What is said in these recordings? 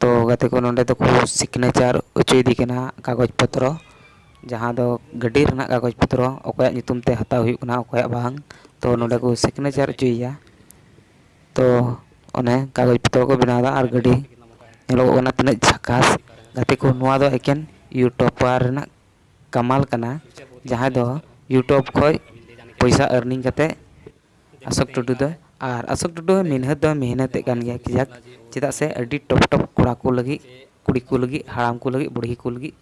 ᱛᱚ ᱜᱟᱛᱮ ᱠᱚ ᱱᱚᱰᱮ ᱫᱚᱠᱚ ᱥᱤᱜᱽᱱᱮᱪᱟᱨ ᱦᱚᱪᱚᱭᱮᱫᱮ ᱠᱟᱱᱟ ᱠᱟᱜᱚᱡᱽ ᱯᱚᱛᱨᱚ ᱡᱟᱦᱟᱸ ᱫᱚ ᱜᱟᱹᱰᱤ ᱨᱮᱱᱟᱜ ᱠᱟᱜᱚᱡᱽ ᱯᱚᱛᱨᱚ ᱚᱠᱚᱭᱟᱜ ᱧᱩᱛᱩᱢ ᱛᱮ ᱦᱟᱛᱟᱣ ᱦᱩᱭᱩᱜ ᱠᱟᱱᱟ ᱚᱠᱚᱭᱟᱜ ᱵᱟᱝ ᱛᱚ ᱱᱚᱰᱮ ᱠᱚ ᱥᱤᱜᱽᱱᱮᱪᱟᱨ ᱦᱚᱪᱚᱭᱮᱭᱟ ᱛᱚ ᱚᱱᱮ ᱠᱟᱜᱚᱡᱽ ᱯᱚᱛᱨᱚ ᱠᱚ ᱵᱮᱱᱟᱣᱫᱟ ᱟᱨ ᱜᱟᱹᱰᱤ ᱧᱮᱞᱚᱜᱚᱜ ᱠᱟᱱᱟ ᱛᱤᱱᱟᱹᱜ ᱡᱷᱟᱠᱟᱥ ᱜᱟᱛᱮ ᱠᱚ ᱱᱚᱣᱟ ᱫᱚ ᱮᱠᱮᱱ ᱤᱭᱩᱴᱩᱵᱟᱨ ᱨᱮᱱᱟᱜ ᱠᱟᱢᱟᱞ ᱠᱟᱱᱟ ᱡᱟᱦᱟᱸᱭ ᱫᱚ ᱤᱭᱩᱴᱩᱵᱽ ᱠᱷᱚᱡ ᱯᱚᱭᱥᱟ ᱟᱨᱱᱤᱝ ᱠᱟᱛᱮᱫ ᱟᱥᱚᱠ ᱴᱩᱰᱩ ᱫᱚ ᱟᱨ ᱟᱥᱚᱠ ᱴᱩᱰᱩ ᱦᱚᱸ ᱢᱤᱱᱦᱟᱹᱛ ᱫᱚ ᱢᱤᱦᱱᱟᱹᱛᱮᱫ ᱠᱟᱱ ᱜᱮᱭᱟ ᱠᱟᱡᱟᱠ ᱪᱮᱫᱟᱜ ᱥᱮ ᱟᱹᱰᱤ ᱴᱚᱯ ᱴᱚᱯ ᱠᱚᱲᱟ ᱠᱚ ᱞᱟᱹᱜᱤᱫ ᱠᱩᱲᱤ ᱠᱚ ᱞᱟᱹᱜᱤᱫ ᱦᱟᱲᱟᱢ ᱠᱚ ᱞᱟᱹᱜᱤᱫ ᱵᱩᱲᱦᱤ ᱠᱚ ᱞᱟᱹᱜᱤᱫ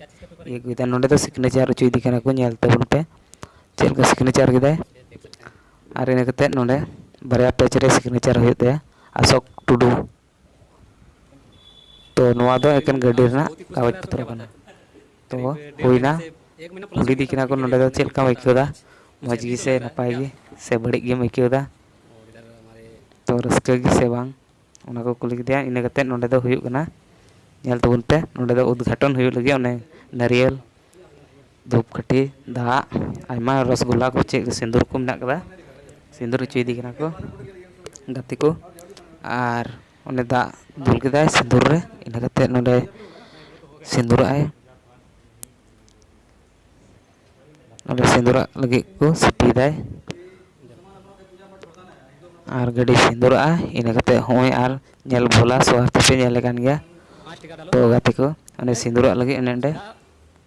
ᱤᱭᱟᱹ ᱠᱚ ᱮᱫᱟ ᱱᱚᱰᱮ ᱫᱚ ᱥᱤᱜᱽᱱᱮᱪᱟᱨ ᱦᱚᱪᱚᱭᱮᱫᱮ ᱠᱟᱱᱟ ᱠᱚ ᱧᱮᱞ ᱛᱟᱵᱚᱱ ᱯᱮ ᱪᱮᱫ ᱞᱮᱠᱟ ᱥᱤᱜᱽᱱᱮᱪᱟᱨ ᱠᱮᱫᱟᱭ ᱟᱨ ᱤᱱᱟᱹ ᱠᱟᱛᱮᱫ ᱱᱚᱰᱮ ᱵᱟᱨᱭᱟ ᱯᱮᱡᱽ ᱨᱮ ᱥᱤᱜᱽᱱᱮᱪᱟᱨ ᱦᱩᱭᱩᱜ ᱛᱟᱭᱟ ᱟᱥᱚᱠ ᱴᱩᱰᱩ ᱛᱚ ᱱᱚᱣᱟ ᱫᱚ ᱮᱠᱮᱱ ᱜᱟᱹᱰᱤ ᱨᱮᱱᱟᱜ ᱠᱟᱜᱚᱡᱽ ᱯᱚᱛᱨᱚ ᱠᱟᱱᱟ ᱛᱚ ᱦᱩᱭᱱᱟ ᱠᱩᱞᱤ ᱫᱤ ᱠᱟᱱᱟ ᱠᱚ ᱱᱚᱰᱮ ᱫᱚ ᱪᱮᱫ ᱞᱮᱠᱟᱢ ᱟᱹᱭᱠᱟᱹᱣ ᱫᱟ ᱢᱚᱡᱽ ᱜᱮ ᱥᱮ ᱱᱟᱯᱟᱭ ᱜᱮ ᱥᱮ ᱵᱟᱹᱲᱤᱡ ᱜᱮᱢ ᱟᱹᱭᱠᱟᱹᱣ ᱫᱟ ᱛᱚ ᱨᱟᱹᱥᱠᱟᱹ ᱜᱮ ᱥᱮ ᱵᱟᱝ ᱚᱱᱟ ᱠᱚ ᱠᱩᱞᱤ ᱠᱮᱫᱮᱭᱟ ᱤᱱᱟᱹ ᱠᱟᱛᱮᱫ ᱱᱚᱰᱮ ᱫᱚ ᱦᱩᱭᱩᱜ ᱠᱟᱱᱟ ᱧᱮᱞ ᱛᱟᱵᱚᱱ ᱯᱮ ᱱᱚᱰᱮ ᱫᱚ ᱩᱫᱽᱜᱷᱟᱴᱚᱱ ᱦᱩᱭᱩᱜ ᱞᱟᱹᱜᱤᱫ ᱚᱱᱮ ᱱᱟᱹᱨᱭᱟᱹᱞ ᱫᱷᱩᱯᱠᱟᱹᱴᱷᱤ ᱫᱟᱜ ᱟᱭᱢᱟ ᱨᱚᱥᱜᱩᱞᱞᱟ ᱠᱚ ᱪᱮᱫ ᱥᱤᱸᱫᱩᱨ ᱠᱚ ᱢᱮᱱᱟᱜ ᱠᱟᱫᱟ ᱥᱤᱸᱫᱩᱨ ᱦᱚᱪᱚᱭᱮᱫᱮ ᱠᱟᱱᱟ ᱠᱚ ᱜᱟᱛᱮ ᱠᱚ ᱟᱨ ᱚᱸᱰᱮ ᱫᱟᱜ ᱫᱩᱞ ᱠᱮᱫᱟᱭ ᱥᱤᱸᱫᱩᱨ ᱨᱮ ᱤᱱᱟᱹ ᱠᱟᱛᱮᱫ ᱱᱚᱸᱰᱮ ᱥᱤᱸᱫᱩᱨᱟᱜ ᱟᱭ ᱚᱸᱰᱮ ᱥᱤᱸᱫᱩᱨᱟᱜ ᱞᱟᱹᱜᱤᱫ ᱠᱚ ᱥᱤᱯᱤᱭᱮᱫᱟᱭ ᱟᱨ ᱜᱟᱹᱰᱤ ᱥᱤᱸᱫᱩᱨᱟᱜᱼᱟ ᱤᱱᱟᱹ ᱠᱟᱛᱮᱫ ᱦᱚᱸᱜᱼᱚᱭ ᱟᱨ ᱧᱮᱞ ᱵᱷᱳᱞᱟ ᱥᱚᱦᱚᱨ ᱛᱮᱯᱮ ᱧᱮᱞᱮ ᱠᱟᱱ ᱜᱮᱭᱟ ᱛᱚ ᱜᱟᱛᱮ ᱠᱚ ᱚᱸᱰᱮ ᱥᱤᱸᱫᱩᱨᱟᱜ ᱞᱟᱹᱜᱤᱫ ᱚᱱᱮ ᱚᱸᱰᱮ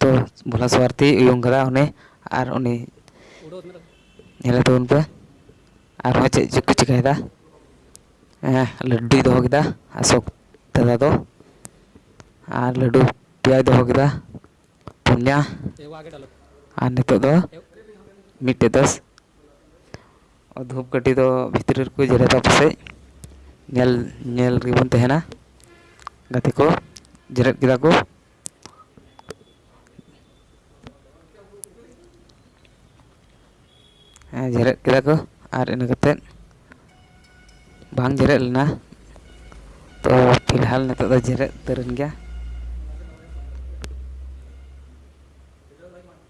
ᱛᱚ ᱵᱷᱳᱞᱟ ᱥᱳᱣᱟᱨᱛᱤ ᱩᱭᱩᱝ ᱠᱟᱫᱟ ᱩᱱᱤ ᱟᱨ ᱩᱱᱤ ᱧᱮᱞᱮ ᱛᱟᱵᱚᱱ ᱯᱮ ᱟᱨᱦᱚᱸ ᱪᱮᱫ ᱪᱚᱠᱚ ᱪᱤᱠᱟᱹᱭᱮᱫᱟ ᱦᱮᱸ ᱞᱟᱹᱰᱩᱭ ᱫᱚᱦᱚ ᱠᱮᱫᱟ ᱚᱥᱳᱠ ᱫᱟᱫᱟ ᱫᱚ ᱟᱨ ᱞᱟᱹᱰᱩ ᱯᱮᱭᱟᱭ ᱫᱚᱦᱚ ᱠᱮᱫᱟ ᱯᱩᱱᱭᱟ ᱟᱨ ᱱᱤᱛᱚᱜ ᱫᱚ ᱢᱤᱫᱴᱮᱡ ᱫᱚ ᱫᱷᱩᱯ ᱠᱟᱹᱴᱷᱤ ᱫᱚ ᱵᱷᱤᱛᱨᱤ ᱨᱮᱠᱚ ᱡᱮᱨᱮᱫᱟ ᱯᱟᱥᱮᱡ ᱧᱮᱞ ᱧᱮᱞ ᱨᱮᱜᱮ ᱵᱚᱱ ᱛᱟᱦᱮᱱᱟ ᱜᱟᱛᱮ ᱠᱚ ᱡᱮᱨᱮᱫ ᱠᱮᱫᱟ ᱠᱚ ᱦᱮᱸ ᱡᱮᱨᱮᱫ ᱠᱮᱫᱟ ᱠᱚ ᱟᱨ ᱤᱱᱟᱹ ᱠᱟᱛᱮᱫ ᱵᱟᱝ ᱡᱮᱨᱮᱫ ᱞᱮᱱᱟ ᱛᱚ ᱯᱷᱤᱞᱦᱟᱞ ᱱᱤᱛᱚᱜ ᱫᱚ ᱡᱮᱨᱮᱫ ᱩᱛᱟᱹᱨᱮᱱ ᱜᱮᱭᱟ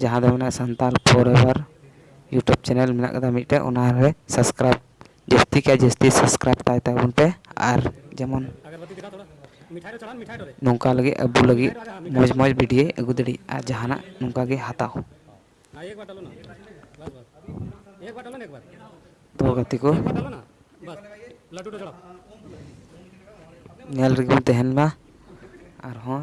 ᱡᱟᱦᱟᱸ ᱫᱚ ᱢᱮᱱᱟᱜᱼᱟ Santal forever YouTube channel ᱢᱮᱱᱟᱜ ᱠᱟᱫᱟ ᱢᱤᱫᱴᱮᱱ ᱚᱱᱟ ᱨᱮ ᱥᱟᱵᱥᱠᱨᱟᱭᱤᱵᱽ ᱡᱟᱹᱥᱛᱤ ᱠᱷᱚᱱ ᱡᱟᱹᱥᱛᱤ ᱥᱟᱵᱥᱠᱨᱟᱭᱤᱵᱽ ᱛᱟᱭ ᱛᱟᱵᱚᱱ ᱯᱮ ᱟᱨ ᱡᱮᱢᱚᱱ ᱱᱚᱝᱠᱟ ᱞᱟᱹᱜᱤᱫ ᱟᱵᱚ ᱞᱟᱹᱜᱤᱫ ᱢᱚᱡᱽ ᱢᱚᱡᱽ ᱵᱷᱤᱰᱭᱳᱭ ᱟᱹᱜᱩ ᱫᱟᱲᱮᱜ ᱟᱨ ᱡᱟᱦᱟᱱᱟᱜ ᱱᱚᱝᱠᱟ ᱜᱮ ᱦᱟᱛᱟᱣ ᱛᱚ ᱜᱟᱛᱮ ᱠᱚ ᱧᱮᱞ ᱨᱮᱜᱮ ᱵᱚᱱ ᱛᱟᱦᱮᱱ ᱢᱟ ᱟᱨᱦᱚᱸ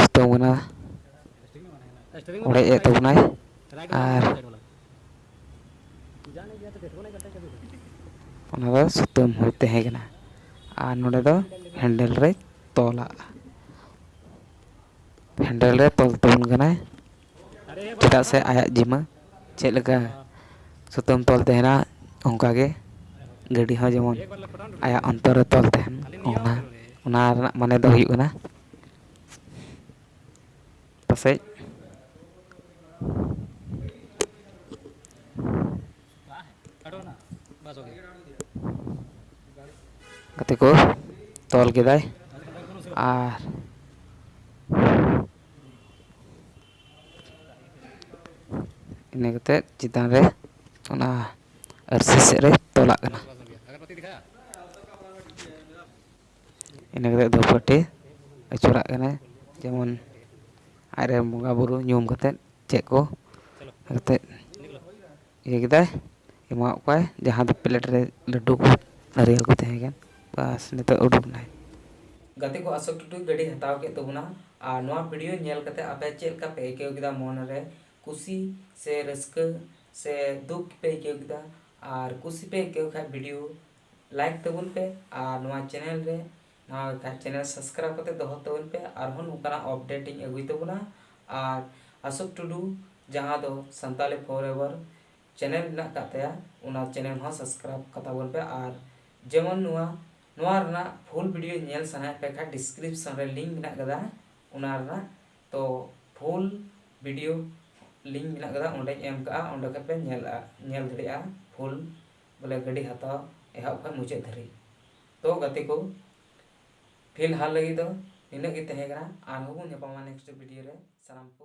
ᱥᱤᱛᱩᱝ ᱠᱟᱱᱟ ᱚᱲᱮᱡ ᱮᱫ ᱛᱟᱵᱚᱱᱟᱭ ᱟᱨ ᱚᱱᱟ ᱫᱚ ᱥᱩᱛᱟᱹᱢ ᱦᱩᱭ ᱛᱟᱦᱮᱸ ᱠᱟᱱᱟ ᱟᱨ ᱱᱚᱰᱮ ᱫᱚ ᱦᱮᱱᱰᱮᱞ ᱨᱮ ᱛᱚᱞᱟᱜᱼᱟ ᱦᱮᱱᱰᱮᱞ ᱨᱮ ᱛᱚᱞ ᱛᱟᱵᱚᱱ ᱠᱟᱱᱟᱭ ᱪᱮᱫᱟᱜ ᱥᱮ ᱟᱭᱟᱜ ᱡᱤᱢᱟᱹ ᱪᱮᱫ ᱞᱮᱠᱟ ᱥᱩᱛᱟᱹᱢ ᱛᱚᱞ ᱛᱟᱦᱮᱱᱟ ᱚᱱᱠᱟ ᱜᱮ ᱜᱟᱹᱰᱤ ᱦᱚᱸ ᱡᱮᱢᱚᱱ ᱟᱭᱟᱜ ᱚᱱᱛᱚᱨ ᱨᱮ ᱛᱚᱞ ᱛᱟᱦᱮᱱ ᱚᱱᱟ ᱚᱱᱟ ᱨᱮᱱᱟᱜ ᱢᱟᱱᱮ ᱫᱚ ᱦᱩᱭᱩᱜ ᱠᱟᱱᱟ ᱯᱟᱥᱮᱡ ᱜᱟᱛᱮ ᱠᱚ ᱛᱚᱞ ᱠᱮᱫᱟᱭ ᱟᱨ ᱤᱱᱟᱹ ᱠᱟᱛᱮᱫ ᱪᱮᱛᱟᱱ ᱨᱮ ᱚᱱᱟ ᱟᱹᱨᱥᱤ ᱥᱮᱫ ᱨᱮ ᱛᱚᱞᱟᱜ ᱠᱟᱱᱟ ᱤᱱᱟᱹ ᱠᱟᱛᱮᱫ ᱫᱷᱩᱯᱠᱟᱹᱴᱷᱤ ᱟᱹᱪᱩᱨᱟᱜ ᱠᱟᱱᱟᱭ ᱡᱮᱢᱚᱱ ᱟᱡ ᱨᱮᱱ ᱵᱚᱸᱜᱟᱼᱵᱩᱨᱩ ᱧᱩᱢ ᱠᱟᱛᱮᱫ ᱪᱮᱫ ᱠᱚ ᱮᱱᱛᱮᱫ ᱤᱭᱟᱹ ᱠᱮᱫᱟᱭ ᱮᱢᱟᱣᱟᱫ ᱠᱚᱣᱟᱭ ᱡᱟᱦᱟᱸ ᱫᱚ ᱯᱞᱮᱴ ᱨᱮ ᱞᱟᱹᱰᱩ ᱠᱚ ᱱᱟᱨᱤᱭᱮᱞ ᱠᱚ ᱛᱟᱦᱮᱸ ᱠᱟᱱ ᱵᱟᱥ ᱱᱤᱛᱚᱜ ᱩᱰᱩᱠ ᱮᱱᱟᱭ ᱜᱟᱛᱮ ᱠᱚ ᱟᱥᱚᱠ ᱴᱩᱴᱩᱭ ᱜᱟᱹᱰᱤ ᱦᱟᱛᱟᱣ ᱠᱮᱫ ᱛᱟᱵᱚᱱᱟ ᱟᱨ ᱱᱚᱣᱟ ᱵᱷᱤᱰᱤᱭᱳ ᱧᱮᱞ ᱠᱟᱛᱮ ᱟᱯᱮ ᱪᱮᱫ ᱞᱮᱠᱟ ᱯᱮ ᱟᱹᱭᱠᱟᱹᱣ ᱠᱮᱫᱟ ᱢᱚᱱ ᱨᱮ ᱠᱩᱥᱤ ᱥᱮ ᱨᱟᱹᱥᱠᱟᱹ ᱥᱮ ᱫᱩᱠ ᱯᱮ ᱟᱹᱭᱠᱟᱹᱣ ᱠᱮᱫᱟ ᱟᱨ ᱠᱩᱥᱤ ᱯᱮ ᱟᱹᱭᱠᱟᱹᱣ ᱠᱷᱟᱱ ᱵᱷᱤᱰᱤᱭᱳ ᱞᱟᱭᱤᱠ ᱛᱟᱵᱚᱱ ᱯᱮ ᱟᱨ ᱱᱚᱣᱟ ᱪᱮᱱᱮᱞ ᱨᱮ ᱱᱚᱣᱟ ᱪᱮᱱᱮᱞ ᱥᱟᱵᱥᱠᱨᱟᱭᱤᱵ ᱠᱟᱛᱮ ᱫᱚᱦᱚ ᱛᱟᱵᱚᱱ ᱯᱮ ᱟᱨᱦᱚᱸ ᱱᱚᱝᱠᱟᱱᱟᱜ ᱟᱯᱰᱮᱴ ᱤᱧ ᱟᱹᱜᱩᱭ ᱛᱟᱵᱚᱱᱟ ᱟᱨ ᱟᱥᱚᱠ ᱴᱩᱰᱩ ᱡᱟᱦᱟᱸ ᱫᱚ ᱥᱟᱱᱛᱟᱞᱤ ᱯᱷᱚᱨ ᱮᱵᱷᱟᱨ ᱪᱮᱱᱮᱞ ᱢᱮᱱᱟᱜ ᱟᱠᱟᱫ ᱛᱟᱭᱟ ᱚᱱᱟ ᱪᱮᱱᱮᱞ ᱦᱚᱸ ᱥᱟᱵᱥᱠᱨᱟᱭᱤᱵ ᱠᱟᱛᱟ ᱵᱚᱱ ᱯᱮ ᱟᱨ ᱡᱮᱢᱚᱱ ᱱᱚᱣᱟ ᱱᱚᱣᱟ ᱨᱮᱱᱟᱜ ᱯᱷᱩᱞ ᱵᱷᱤᱰᱤᱭᱳ ᱧᱮᱞ ᱥᱟᱱᱟᱭᱮᱫ ᱯᱮ ᱠᱷᱟᱱ ᱰᱤᱥᱠᱨᱤᱯᱥᱚᱱ ᱨᱮ ᱞᱤᱝᱠ ᱢᱮᱱᱟᱜ ᱟᱠᱟᱫᱟ ᱚᱱᱟ ᱨᱮᱱᱟᱜ ᱛᱚ ᱯᱷᱩᱞ ᱵᱷᱤᱰᱤᱭᱳ ᱞᱤᱝᱠ ᱢᱮᱱᱟᱜ ᱟᱠᱟᱫᱟ ᱚᱸᱰᱮᱧ ᱮᱢ ᱠᱟᱜᱼᱟ ᱚᱸᱰᱮ ᱠᱷᱚᱱ ᱯᱮ ᱧᱮᱞ ᱧᱮᱞ ᱫᱟᱲᱮᱭᱟᱜᱼᱟ ᱯᱷᱩᱞ ᱵᱚᱞᱮ ᱜᱟᱹᱰᱤ ᱦᱟᱛᱟᱣ ᱮᱦᱚᱵ ᱠᱷᱚᱱ ᱢᱩᱪᱟᱹᱫ ᱫᱷᱟᱹᱨᱤᱡ ᱛᱚ ᱜᱟᱛᱮ ᱠᱚ ᱯᱷᱤᱞᱦᱟᱞ ᱞᱟᱹᱜᱤᱫ ᱫᱚ ᱱᱤᱱᱟᱹᱜ ᱜᱮ ᱛᱟᱦᱮᱸ ᱠᱟᱱᱟ ᱟᱨᱦᱚᱸ ᱵᱚᱱ ᱧᱟᱯᱟᱢᱟ ᱱᱮᱠᱥᱴ ᱵᱷᱤᱰᱤᱭᱳ ᱨᱮ ᱥᱟᱱᱟᱢ ᱠᱚ